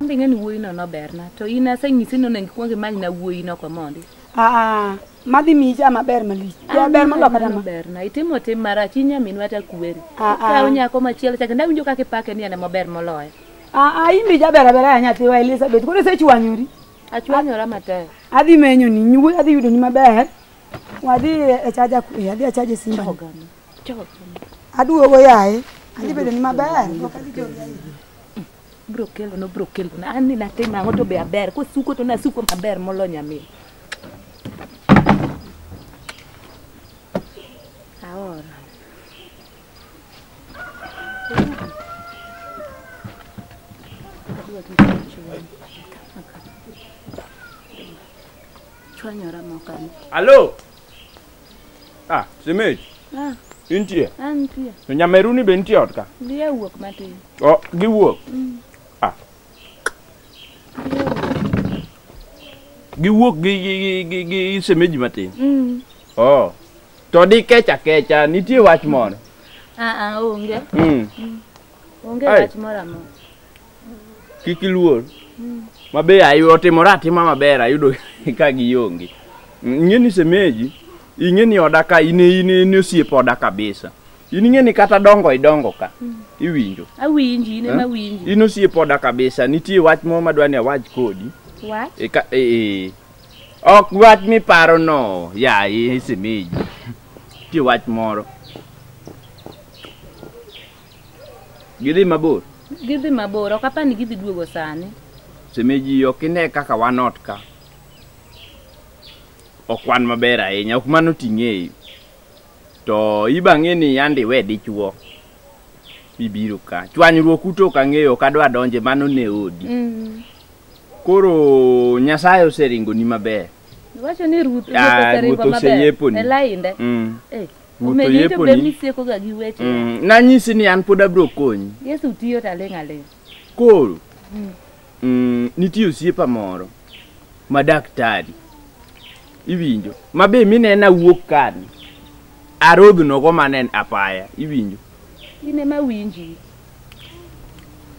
Ambe ng'eni wuoyino noberna to in asenyisi ni onego ikwong imanyna wuoyino komondi. Aa, madhi miyi cha maber malich. Ja ber moloka dama. Berna itimo tim marach in nyaminwa ta kweri. Ah, ah. Kaw nyako machielo chake ndawinjo kaka ipake ni en ema ober moloyo. Aa, in be jaber abera ya nyathiwa Elizabeth. Koro isechwanyori. Achwanyora matek. Adhi menyo ni nyuwe adhi yudo ni maber. Wadhi e chaja kwe, adhi achaje simba. Oganda. Aduogo yaye. Adhi bedo ni maber. Ok adhi jori ahinya. bro kelo no bro kelo na an ni natim ang'o to be aber kosuko to nasuko maber molo nyamin aora chwanyora mokani Halo. Ah, Semej, Ah, intie? antie. To nyameruni be nitie ot ka? Dhiye wuok matin. O, giwuok. Ah. Giwuok gi gi gi gi, gi semeji matin. Mm. Oh. To di kecha kecha nitie wach moro. Ah ah onge. Mm. Onge Ai. wach moro amora. kik iluor ma be ayu- otimore atima maber ayudo ka gionge ing'e ni semeji ing'e ni oda ka in in in osiep oda kabisa in ing'e ni kata dongo idongo ka iwinjo awinji in Eh? ema winji in osiep oda kabisa nitie wach moro madwa ni awach kodi wach e ka e, e. ok wach miparo no ya e semeji nitie wach moro Gidhi mabor. Gidhi mabor, ok apar ni gidhi duogo sani. Semeji ok ine kaka wan ot ka. Ok wan maber ahinya, ok mano ting'eyi. To ibang'e ni yandi we dichuo. Ibiro ka. Chwanyruok uto ok ang'eyo, ok adwa donje, mano ne odi. Mm. Koro Nyasaye oseringo ni maber. Iwacho ni Ruth ah, oseringo maber. Ruth oseyeponi. E lainde. Mm. Eh. Wuotho Omedo to yeponi. bed ni sieko ga gi weche. Mm, nanyisi ni an pod abiro konyi Yesu tiyo taling' aling'. koro Mm. mm, nitie osiepa moro ma daktari iwinjo ma be minena wuok kani arodhnogo manen apaya iwinjo In ema winji.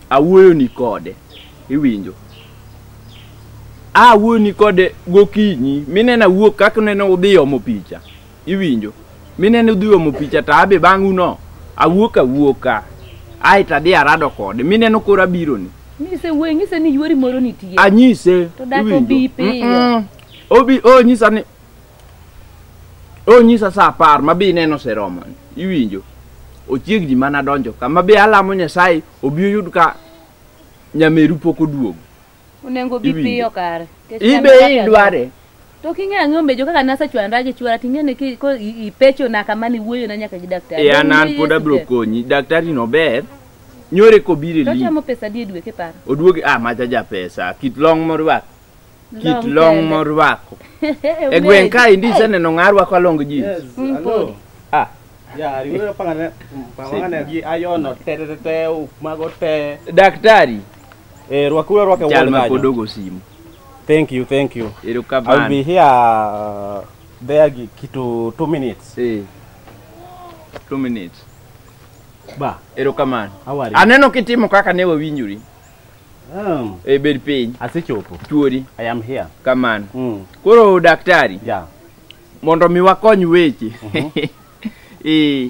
awuoyoni kode iwinjo awuoyoni kode gokinyi minena wuok kaka nene udhi omo picha iwinjo minene udhi omo picha to abe bang' uno awuok awuoka ae to adhi arado kode mineno koro abironi nise wuoyi ng'ise ni yuori moro nitie anyise To dak iwinjo? obi piyo. Mm-mm. obi onyisa ni onyisa sa apar ma be ineno oseromo iwinjo ochiegni mana donjo ka ma be alamo nyasaye obi oyud ka nyameru pok oduogo Onengo bi Iwinjo. piyo kare. Kech In be chandruok idware. To king'e ang'e omejo kaka nasechwandra gi chwora ting'e ni ki- ko i- ipecho na kama ni wuoyo na nyaka gi daktari. E an an pod abiro konyi. Daktari no ber. Nyore kobire To li. chamo pesa di e dwe kiparo. Oduogi ah macha ja pesa. Kit long morwako. Kit Long long kende. morwako. E gweng' ka indi iseneno ng'a rwako long jeans. Yes, Mm, hello. pod. Ah. Yeah, riwore pangane pangane gi ayono te te te te mago te. Daktari. Eh, rwakuru arwaka Jal wuon ma pod kanyo. ogo simu. Thank you, thank you. I'll be Erokamano. here uh, there gi- kitu 2 minutes. Eh. Two minutes. Ba, Erokamano. how are you? Aneno kitimo kaka ne wawinjori. Um, E bed piny. asechopo. Chuori. I am here. Kamano. Mm, Koro daktari, yeah. mondo mi wakony weche. Eh.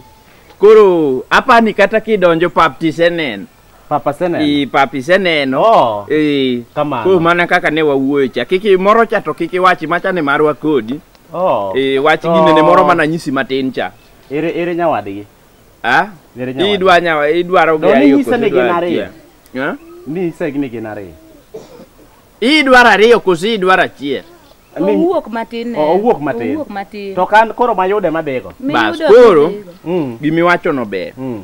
Koro apani kata kidonjo pap tiseneno. Papa Seneno. I papi seneno. Oh. I. Kamano. Koro mana kaka ne wawuoyo cha. Kik moro cha to kik iwachi macha ni marwa kodi. Oh. I wach to... gine ne moro mana nyisi matin cha. Ere ere nyawadgi. Ah? Ere nyawadgi. Idwa nyawa idwaro ga ayo. Ni sene genare. Ha? Ni sene genare. Idwaro ariyo koso idwaro achiel. Owuok matin. Oh, owuok matin. Owuok matin. To kan koro mayude madego. Bas koro. Mm. Gimiwacho no ber. Mm.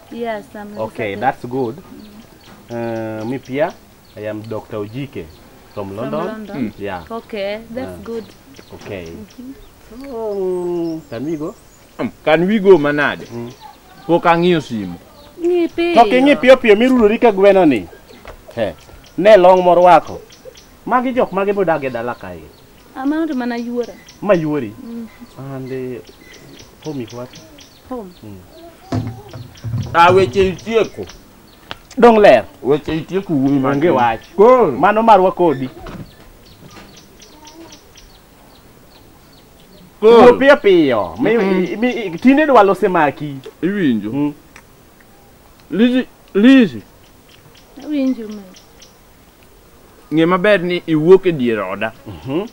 Yes, I'm Okay, Lisa that's good. Uh, me pia, I am Dr. Ojike from from London. London. Yeah, Okay, that's Yeah. good. okay. So, mm, can we go? Can we go manade? Pok ang'iyo simu. Ng'i piyo. To king'i piyo piyo mirudori ka gweno ni. He. Ne long morwako. Magi jok mage bodag e dala kae. Amount mana yuora. Mayuori. And uh, home is what? Home. Ah, weche itieko. Dong ler. Weche itieko wuoyi man Onge wach. Koro. Mano marwa kodi. Koro. Wuo piyo piyo. Mi- Mm-mm. mi- mi- Tinde dwa lose maki. Iwinjo. Lizi, Lizi. Awinjo mama. ng'e maber ni iwuok e dier oda mhm.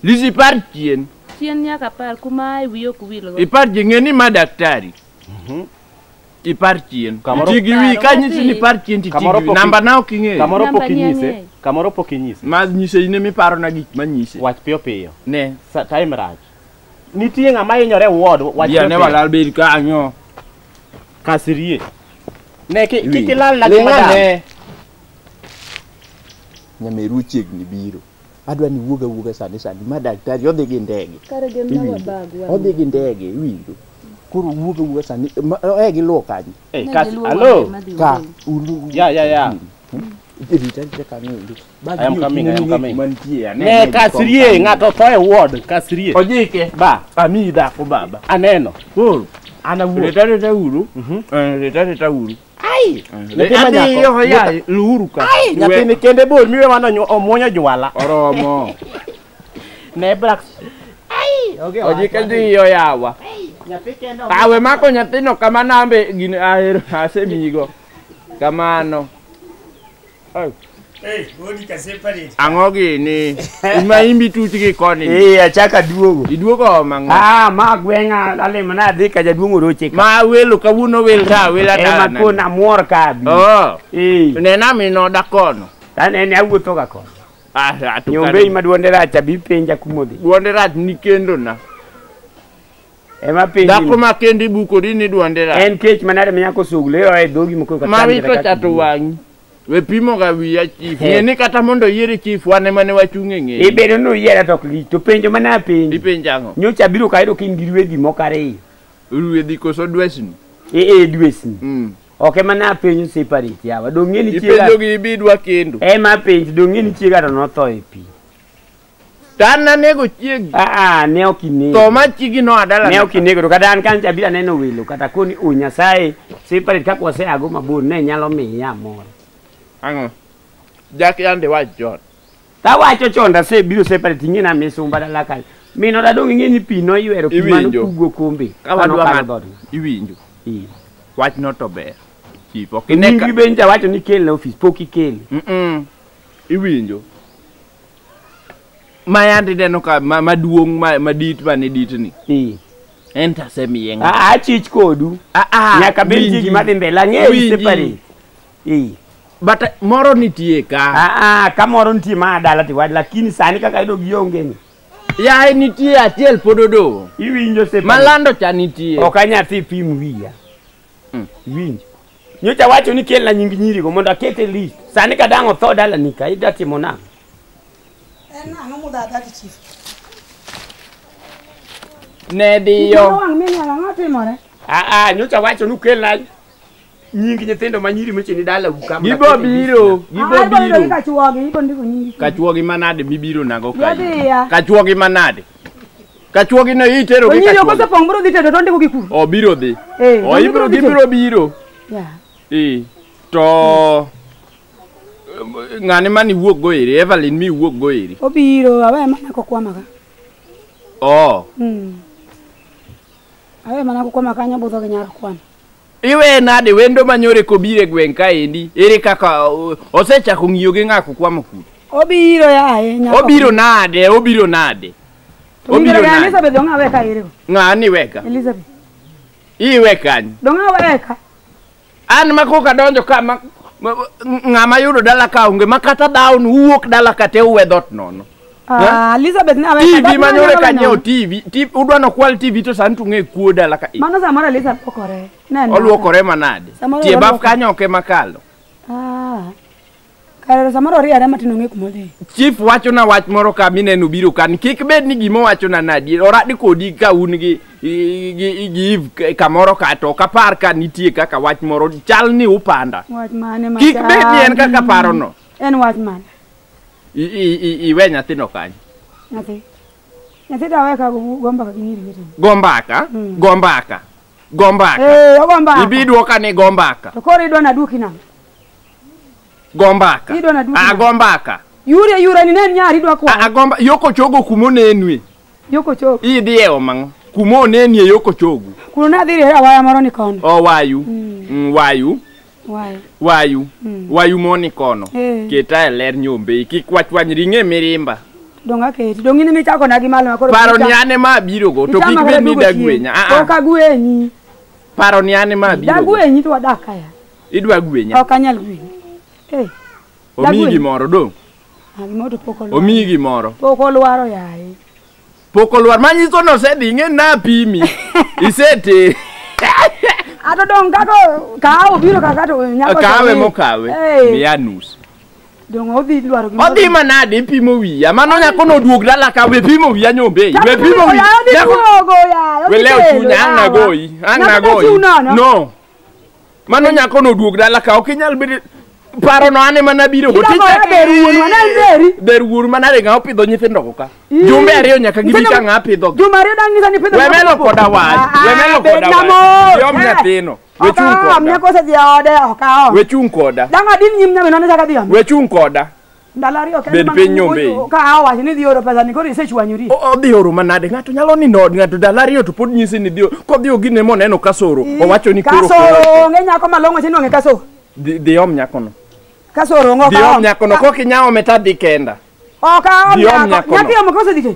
lisi par chien chien nyaka par kuma e wiyo kuwilgo ipar ji ng'e ni ma daktari mhm. ipar chien ti gi wi ka nyisi ni par chien ti ti gi namba na ok ing'eyo kamoro pok inyise kamoro pok inyise ma nyise ine miparo na gik ma nyise wach piyo piyo ne time rach nitie ng'ama hinyore ward wach piyo piyo ne walal bed kanyo kasirie ne ki kilal na gi madam nyameru ochiegni biro adwa ni wuog awuoga sani sani ma daktari odhi gi ndege Kare gem na Iwinjo? wabag wa. odhi gi ndege iwinjo koro wuog awuoga sani ma- eh giluwo kanyo Eh, Ne Kasi, giluwo hello? wang'e madhi ka wuoyo. ulu Yeah, yeah, yeah. rita rita kanyo ulu I am coming, I am coming. mantie Ne Kasrie, ng'ato tho e ward Kasrie. ojike Ba, ami dhako baba aneno. koro ana wuoga rita rita uru rita rita uru Ai. Nyathi ma Adhi nyako. yoho yaye, luhuru ka. Ai, nyathini kende bol miwe mano nyo- omwonyo jwala. Oromo. Ne Brax. Ai, oge owacho. Ojike dhi yo yawa. Nyathi kende omwonyo- Awe mako nyathino kama nambe gini ahero asemiyigo. Kamano. Ang'o gini? Ima imbi tuch gi koni. Eh, achaka duogo. Iduogo mang'o? Ah, ma gweng'a lalimo na adhi ka jaduong' oroche ka. Ma welo kawuono wel ta wel adana. Ema eh, kona muor ka bi. Oh. Eh. Nena mino da kono. Tane ne awuotho ga kono. Ah, atukane. Nyombe ima duonde rach abi penja kumodhi. Duonde rach ni kendo na. Ema penji. Dhako ma kendi bukori ni dwonde rach. En kech manade ma nyako sugle yo e dhogi moko kata. Ma wito chato wang'i. We pimo ga wiya chief. Ng'e ni kata mondo yiere chief wan ema ne wachung' e ng'eyi. Ibedo ni uyiera to ok li. To penjo mana apenji. Ipenjo ang'o? Nyocha abiro kayudo ka in gi rwedhi moko ariyo. Rwedhi koso dwesni? Ee eh, eh, dwesni. Mm. Ok ema ne apenjo separate yawa. Dong' ng'e ni chiega. Ipenjo gi ibidwa kendo. Ema apenji dong' ng'e ni chiega to notho e pi. To an nanego chiegi. Aa, ne ok inego. To ma chiegi no adala. Ne ok inego to kata an kancha abira neno welo kata koni o Nyasaye separate kaka waseago mabor ne nyalo miya mor. Ang'o? Jak yande wach John. Tawacho chon dasebiro separate ing'e na misumba dala kanyo. Min oda dong' ing'e ni pi noywero pi mano Iwinjo. kugo kombe. Ka Kano wadwa kalo ng'at. dhoot. Iwinjo. Ii. Wach no to ber. Chief ok Nyingi ineka. be nja wacho ni kel na ofis pok ikele. Mm. Iwinjo. ma yandi neno ka ma- maduong' ma- madit mane ditni Eh. en to asemiye ng'a Ah, achich kodu Ah, ah, nyaka bed winji. jiji madhi mbele ang'eyi Winji. separi Eh. but eh, moro nitie ka Ah, ah, kamoro nitie ma dala tiwach lakini sani kaka ido giongeni yaye nitie achiel pod odong' iwinjo separi malando cha nitie ok anyathi pim wiya Winj. Nyocha wacho ni kelna nying nyirigo mondo aket e list. Sani ka dang' otho dalani ka idwa timo nang'o? En ang'o mudhadha gi chief? Ne diyo. Wang' minyalo ang'o timore? Ah ah, nyocha wacho ni ukelna nying nyithindo ma nyiri mocheni dala uka. Gibo biro, gibo Adwa yudo biro. ni kachuogi, ibo ndiko nyingi. Kachuogi manade mibiro nago Yadhiya. kae? Kachuogi manade? Kachuogi ne itero gi Onyinyo kachuogi. kosepong' biro dhi tedo to ondiko gi kuru. Obiro dhi. Eh, O ibiro obiro dhi gibiro tedo. biro. Yeah. Eh. To ng'ane mani wuok go eri, Evelyn mi wuok go eri. Obiro awe mana kokwamaga. Oh. Mm. Awe mana kokwama kanyo budho gi nyar kwana. Iweye nade wendo manyore kobiro e gweng' kaendi? Ere kaka uh, osechako ng'iyo gi ng'ako kwamo kuno? Obiro yaye nyako. Obiro nade? Obiro nade? To Obiro mingere ga nade? Elizabeth dong' awe ka ere go. Ng'ani weka. Elizabeth. Iwe kanyo. Dong' awe ka. An ma koka donjo ka ma ma- ng'ama yudo dala ka onge ma kata down uwuok dala ka te uwe dhot nono. Ah, Elizabeth ne aweka. TV manyore ka nyiewo TV. TV udwa no kwal TV to sani tung'e kuo dala ka. Mano samoro Elizabeth lokore. Neno. Oluokore manade. Samoro Tie baf oluokore. kanyo oke makalo. Ah. Kare samoro riere matin ong'e kuma odhi. Chief wacho na wach moro ka mineno biro kan. Kik bed ni gima wacho na nadi. Oradi kodi ka un gi gi gi- gi Eve ka- kamoro ka to kapar ka nitie kaka wach moro chal ni upanda. Wach mane ma. Kik bed ni en kaka parono. En wach mane? I- i- i- iwe nyathino kanyo nyathi nyathi dawe ka gombaka gi nyiri wetene go mbaka Mm. go mbaka go mbaka ee ogo mbaka ibi dwoka ni go mbaka to koro idwa naduoki nang'o go mbaka Idwa naduoki Ah, nang'o? go mbaka yure yure ni ne en nyari idwa Ah, ah, kwa go mba- yo kochogo kuma onenue yoko chok idhi e omang'o kuma onenie yo kochogo kuno nadhi rere awaya moro ni kono owayu Mm. Mm, wayu Wayo. wayu Mm. wayu moni kono Eh. keta e ler nyombe kik wachwany ring'e mirimba Dong aketi. Dong in michako na gi malo makoro. paro ni ane ma abirogo to kik bed ni dagwenya Ah, ah. Ok agwenyi. paro ni ane ma abirogo Dagwenyi to wadak kaya. idwa gwenya Ok anyal gwenyi. Eh, omiyi dagwenya. gimoro dong ah, gimoro to pok olwaro. omiyi gimoro Pok olwaro yaye. Pok olwar manyiso ni osedhi ing'e napimi. Iseti. Ato dong' kaka kawo biro kaka to nyako Kawe chami. mokawe. Eh, Miya nus. Dong' odhi dwaro gimoro. Odhi manade ipimo wiya. Mano nyako noduog dala ka we pimo wiya nyombe. Chako We pimo wiya. Oya, odhi Nyako- duogo, oya, odhi Welew kelo, chunya ang' yawa. nagoyi. Ang' Nyako nagoyi. ochiw nono. No. Mano nyako no duog dala ka ok inyal bedo paro no ane mana biro go tich der wuor mana re ng'a opidho nyithindo go ka jumbe ariyo nyaka gibi ka ng'a pidho jumbe ariyo dang ngisa ni pidho we melo koda wach ah, ah, we melo koda wach yom eh. nyathino we chung koda we chung koda dang adin nyim nyamino ne saka dhi we chung koda Ndalo ariyo kende Bed ma- piny nyombe iyi. o- Ka awacho ni dhi oro pesa ni koro isechwanyori. O- odhi oro manade ng'ato nyalo nindo od ng'ato dala ariyo to pod nyisi ni dhi o- kodhi ogine moneno kasoro owacho ni koro Kasoro onge nyako malong'o che nwang'e kasoro. dhi dhi om nyakono Kasoro onge dhi om nyakono kok inyawo meta dhi kenda Oka om Dhi om nyako. nyakono. Nyako yomo kosedike.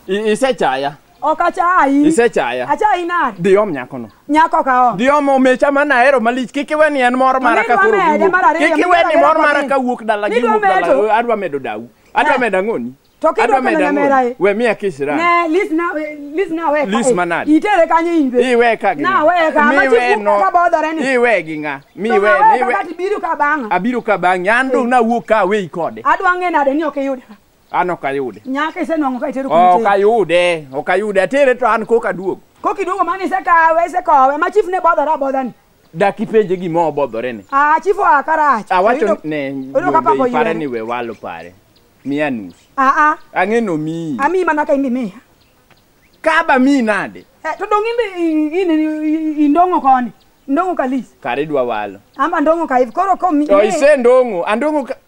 I- isechaya Ok achayi. Isechaya. Achayi nade? Dhi om nyakono. Nyako ka om. Dhi om omecha ma nahero malich. Kik iwe ni en mor mara ka koro giwuok. Kik iwe ni mor mara ka wuok dala giwuok dala. Adwa medo dawu. Adwa medo ang'oni. To kidwa kelo nyamera e. We miya kiss ra. Ne, list na, list na we ka. List manad. Itere kanyo in be. Iwe ka gi. Na we ka. Ma chi no. Ka bodore ni. Iwe gi nga. Mi we, mi we. Ka biru ka banga. Abiru ka banga. An dong na wuok ka we ikode. Adwa ng'e nade ni ok iyude. an ok ayude nyaka isenwang'o ka itero kuma ok itero. ayude ok ayude atere to an koka duogo koka iduogo mani isekawe isekowe ma chief ne bodhore abodha ni dak ipenje gima obodhore ni ah chief oa karach awacho Oyudo- ne oyudo ka pako wuonde ipare yien. ni we walo pare miya nus ah ah ang'e nomiyi amiyi mana ka imbi miya kaba miyi nade Eh, to dong imbi i- i- i- i- indong'o koni indong'o kalis kare idwa walo amba ndong'o ka hivi koro komi to isendong'o andong'o ka-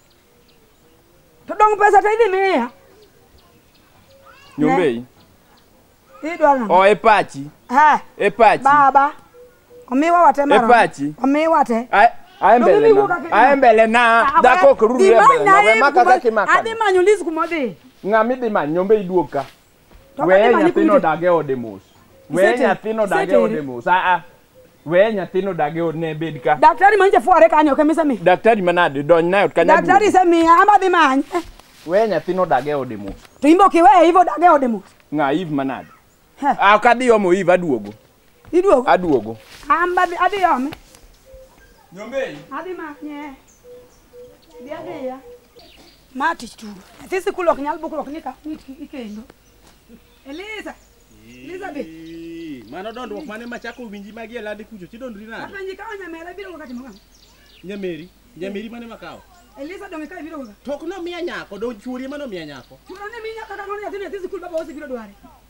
To dong' pesa to idhi miya. Nyombei. Idwa nang'o? O e pachi. Ha, E pachi. baba. Omiwa wate E marom. pachi. Omiwa te. Ae- Ae mbele Nyombei wuok na. akina. Ae mbele na. Ah, Dhako ok ruri e Imany mbele na. naye We maka kuma- kaka imaka. Adhi manyo Liz kuma odhi. Ng'ama idhi manyo nyombei duog ka. To weye kati mani nyathino kundi. dag e ode mos weye Iseteri. nyathino dag e Iseteri. ode mos aa weye nyathino dag e ode ne bed ka Daktari manje fuare kanyo kamisa mi. daktari manade dony nayo kanya Daktari duogo. semiya ama dhi manye. weye nyathino dag e ode mos To imbe ok iweye ivo dage ode mos. ng'a iv manade Heh. ah kadhi omo iv aduogo Iduogo? Aduogo. An be adhi ome. Nyombei. Adhi manye. Dhi adhiya. Ma tich tugo. Nyathi sikul ok nyal bukruok ni ka mit ikendo. Eliza. Elizabeth. Mano dondruok mane machako winji magi e landi kucho tidondri nade? Apenji ka onyamera biro wakati mokam. Nyameri. Nyameri mane makawo? Elisa donge ka ibiro wakati. Tok nomiya nyako, dong chuori ema nomiya nyako. Chuora ne minya kaka ng'ono nyathi nyathi sikul baba ose biro dware.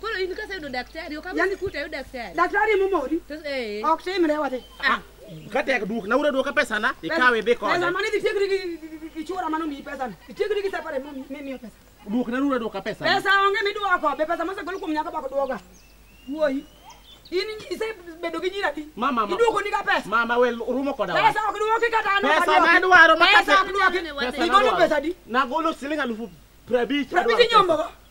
Koro in kaseyudo daktari, ok Yani- asikute ayud daktari. Daktari momori. To eh. Ok timre wate. Ah, Ka tek duok na ura duoka pesa na ikawe dhi kode. Pesa mane itiekri gi- gi- gi- gi chura mano miyi pesa. Itiekri gi sapare mo mi- miyo pesa. Duok na ura duoka pesa. Pesa onge miduoko, be pesa mosegol kuom nyako bako duoga. Wuoyi. In isebedo gi nyira di. Mama, ma- Iduoko ni ka pesa. Mama we rumo koda. wa. Pesa ok duoki kata an ok Pesa aduoki. ma adwaro ma Pesa kase- ok duoki. Pesa Igolo nadwaro. pesa di. Nagolo siling alufu prabich. Prabiti nyombo.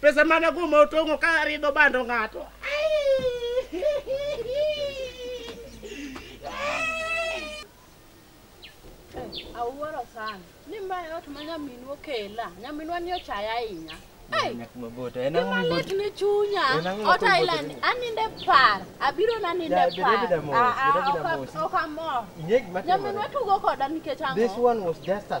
Pesa mane kuma otong'o ka ridho bando ng'ato. Awuoro sana. Ni ma ot ma nyaminwa okela. Nyaminwa ni ochaya ahinya. Hey, Nyak maboto. En ang'o Joma lit maboto? ni chunya. En ang'o Ot maboto? aila ni aninde par. Abiro naninde Ya, bed par. abeda mos, Ah, ah, bed abeda ok- mos. Ok amor. Ing'e gima timore? Nyaminwa tugo koda nikech ang'o? This one was just a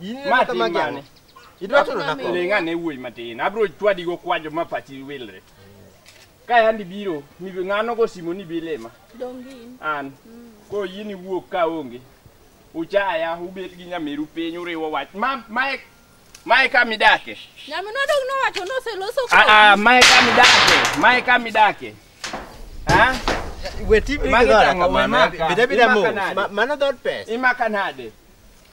In Ma ma tim magi mane? ang'o? Idwa turo na ko? Ling' ane wuoyi matin. Abiro chwadi go kwajo ma pachi wilre. Ka yandi biro, ni ng'ano go simo ni bilema. Dongin. An. Ko in iwuok ka onge. Uchaya, ubet gi nyamiru piny uriwo wach. Ma mae mae ka midake. Nyaminwa dong nowacho noseloso Ah ah, mae ka midake. Mae ka midake. Ha? We tip ni Magi gidora tang'o, we kamano. maka. Bida bida Imaka mos. nade? Ma- Mano dhood pesa. Imaka nade?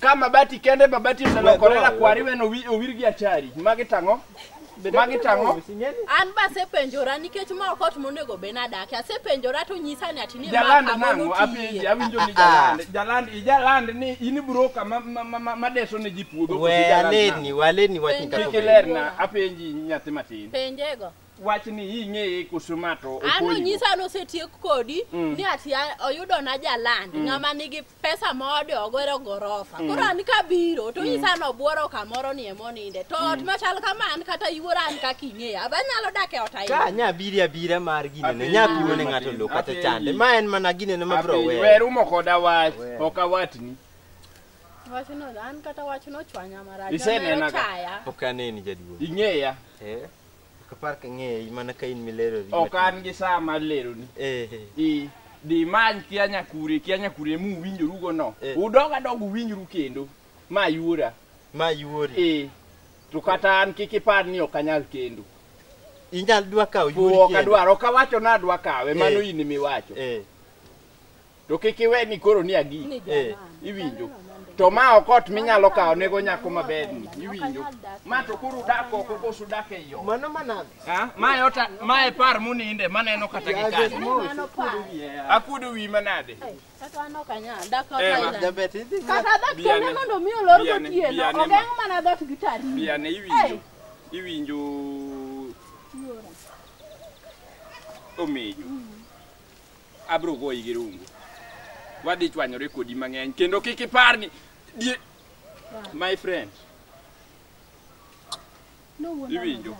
Ka mabati kende mabati oselokore la kwari weno wi- owir gi achari. Magi tang'o? Magi tang'o? An ba asepenjora nikech ma ok ot monego bed nadakie. Asepenjora to nyisa ni ati ni ma Jaland kama nang'o? notiye. Apenji, awinjo ni jaland. Jaland, ijaland ni in broka ma- ma- ma- ma- madeso ne ji puodho. koso ijaland nang'o? Waleni, waleni wachni Penjo. kaka Kik ilerna, apenji nyathi matin. Penjego. wachni ing'eye koso ma to an opoyigo? onyisa ni osetiek kodi Mm. ni ati a- oyudona jaland Mm. ng'ama nigi pesa moode ogero gorofa Mm. koro an kabiro to Mm. onyisa ni obworo kamoro ni emoninde to ot Mm. machal kama an kata iwuora an kaka ing'eya aba nyalo dak e ot ka ahinya nya biri abira mar ginene Apenji nya piwo ne matin, ng'ato lo kata apenji. chande ma en mana ginene ma bro Apenji, we wer umo koda wach Wer. ok awatni wachno an kata wachno ochwanya marach Isenena ka? ochaya ok aneni jaduong' ing'eya Eh? Kapar ka ng'eyi mana ka in milerori. Ok an gi saa mar leroni. Eh. Ii. Dhi many kia nyakure, kia nyakure mu winjoru go no. Eh. Udog adog uwinjru kendo. Ma yuora. Ma yuori. Eh. To kata an kik ipar ni ok anyal kendo. Inyal dwa kawo yuori kendo. Ok adwar, ok awacho ni adwa kawe, mano eh. in miwacho. Eh. to kik iwe ni koro ni agi eh, iwinjo to ma ok ot minyalo kawo nego nyako maberni iwinjo ma to koro udak oko koso udak e yo mano manade mae ota mae par muninde maneno kata gi kani akudo wi manade kata an ok anyal dak ot eh, kata dak kende mondo mi olor gotieno ogeng' mana dhot gi tari biane iwinjo iwinjo omejo mm. abro goyi gi rungu wadhi chwanyore kodi mang'eny kendo kik ipar ni die- my friend iwinjo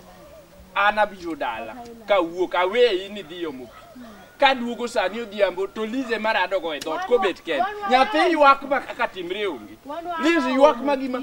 an abiro dala kawuok aweyi ni dhi omo pi kaduogo sani odhiambo to lize mar adogo e dhot kobet kende nyathi ywak ma kaka timre onge lize ywak ma gima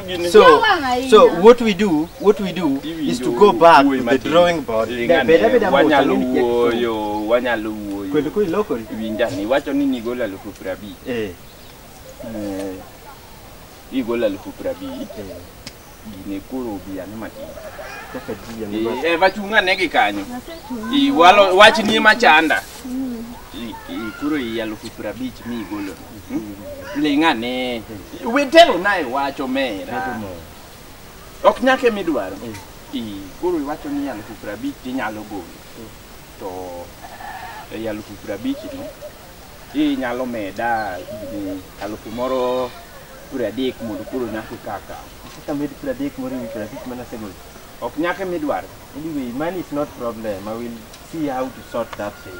So, so what we do, what we do is to go back to the drawing board. Wanyalo wuoyo, wanyalo wuoyo. Kweli kweli loko. Winja ni wacho ni nigola lufu prabi. Eh. Eh. Nigola lufu prabi. Eh. Gine kuro biya ni mati. Kaka jiya ni mati. Eh, vachunga negi kanyo. Iwalo, wachi ni machanda. Mm. Kuro iya lufu prabi chimi igolo. ling'ane witelo na iwacho mera ok nyake midwaro Ii, koro iwacho ni alufu piero abich tinyalo golo to ei alufu piero abich no inyalo meda mm, alufu moro piero adek mondo koro nyaka ikaka Kaka med piero adek moro ewi piero abich mana segol. ok nyake midwaro Anyway, money is not problem. I will see how to sort that thing.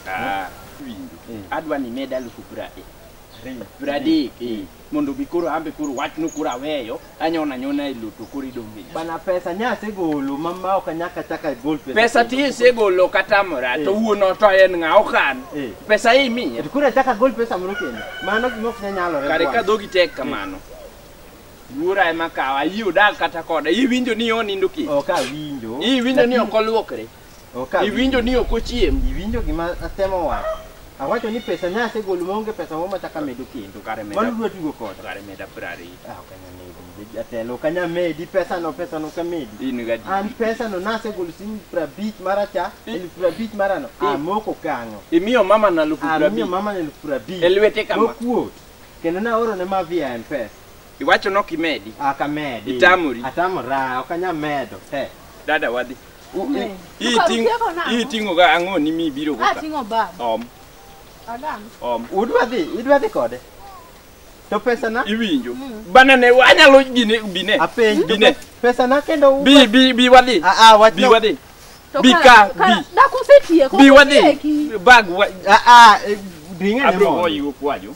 Ah, winjo mm. adwa ni med alufu prade pradek mm. mm. mondo mi koro ambe koro wachno koro aweyo anyona nyona e loto koro idonge bana pesa nya asegolo mama ok anyaka chaka gol pesa pesa ti isegolo kata mora to eh. wuon oto en ng'a okan eh. pesa imiye to koro achaka gol pesa moro kendo mano gima ok nyalore kare ka dhogi tek kamano eh. Yura ema kawa, yi odak kata koda, yi winjo ni onindo kich. Ok awinjo. Yi winjo ni ok oluokre. Okawinjo. Iwinjo ni ok ochiem. Iwinjo gima atemo wacho. Awacho ni pesa ne asegolo maonge pesa moro machak amedo kendo. Kare meda- Mano dwa tugo koda. Kare meda prari. Ah, ok anyal medi. Jatelo, ok anyal medi. Pesano, pesano ok amedi. In gadi. An pesano nasegolo siling' prabich maracha, I- elfu prabich marano. I- Amoko kanyo. Imiyo mama na lupu Amiyo prabich. mama elfu prabich. E lwete kama. Mokuot. Kendo naoro ne Mavia e M-Pesa. Iwacho ni ok imedi. Ok amedi. Itamori. Atamora, ok anyal medo. He. Dada wadhi. U- u- Ne. Hii Ukaru ting- tieko nang'o? hii ting'o ga ang'o ni mi biro go ka? Ating'o bag. Om, Adam. om. Udwa dhi, idwa dhi kode. To pesa na? Iwinjo. Bana ne anyalo gine bine. Apenj. Bine. Pesa na kendo u. Bi bi bi wadhi. Ah ah, wach Bi wadhi. To Bi ka- ka- ka- bi. Dak usetieko. Bi wadhi. usetieki. Bag wa. Ah ah, ring'e ne Abro mondo. goyi go kwajo.